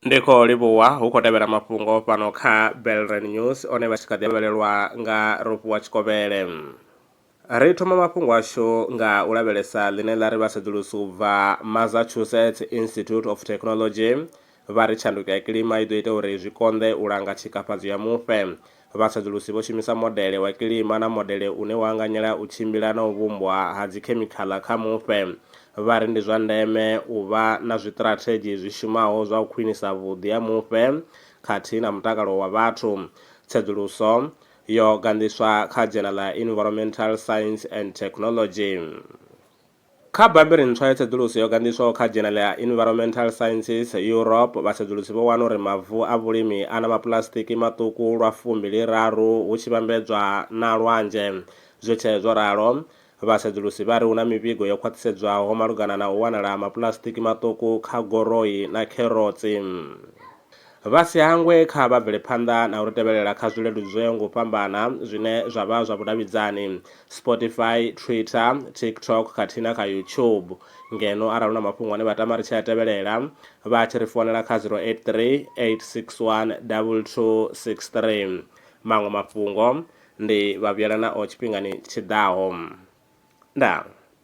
ndi khou livhuwa hu khou tevhela mafhungo fhano kha belren news one vha tshi kha ḓi lavhelelwa nga ropuwa tshikovhele ri thoma mafhungo ashu nga u lavhelesa ḽine ḽa ri vhasedzulusi u bva massachusetts institute of technology vha ri tshanduko ya kilima i ḓo ita uri zwi konḓe u langa tshikafhadzo ya mufhe. Vhasedzulusi vho shumisa modele wa kilima na modele une wa anganyela u tshimbila na u vhumbwa ha dzikhemikhaḽa kha mufhe, vha ri ndi zwa ndeme u vha na zwiṱirathedzhi zwi shumaho zwa u khwinisa vhuḓi ha mufhe khathihi na mutakalo wa vhathu. Tsedzuluso yo ganḓiswa kha dzhena ḽa Environmental Science and Technology. Kha Bammbiri ntswa ya tsedzuluso yo gandiswaho kha Dzhenele ya Inviromental Sciences, Europe, vhasedzulusi vho wana uri mavu a vhulimi a na mapuḽasitiki maṱuku lwa fumbili raru hu tshi vhambedzwa na lwanzhe. Zwi tshee zwo ralo, vhasedzulusi vha ri hu na mivhigo yo khwaṱhisedzwaho malugana na u wanala ha mapuḽasitiki maṱuku kha goroi na kherotsi. Vha si hangwe kha vha bvele phanḓa na u ri tevhelela kha zwileludzweo ngo fhambana zwine zwa vha zwa vhudavhidzani, Spotify, Twitter, TikTok khathihi na kha YouTube. Ngeno arali hu na mafhungo ane vha tama ri tshi a tevhelela, vha tshi ri founela kha 083 861 2263. Maṅwe mafhungo ndi vha vhuyela nao tshifhingani tshi ḓaho. Ndaa.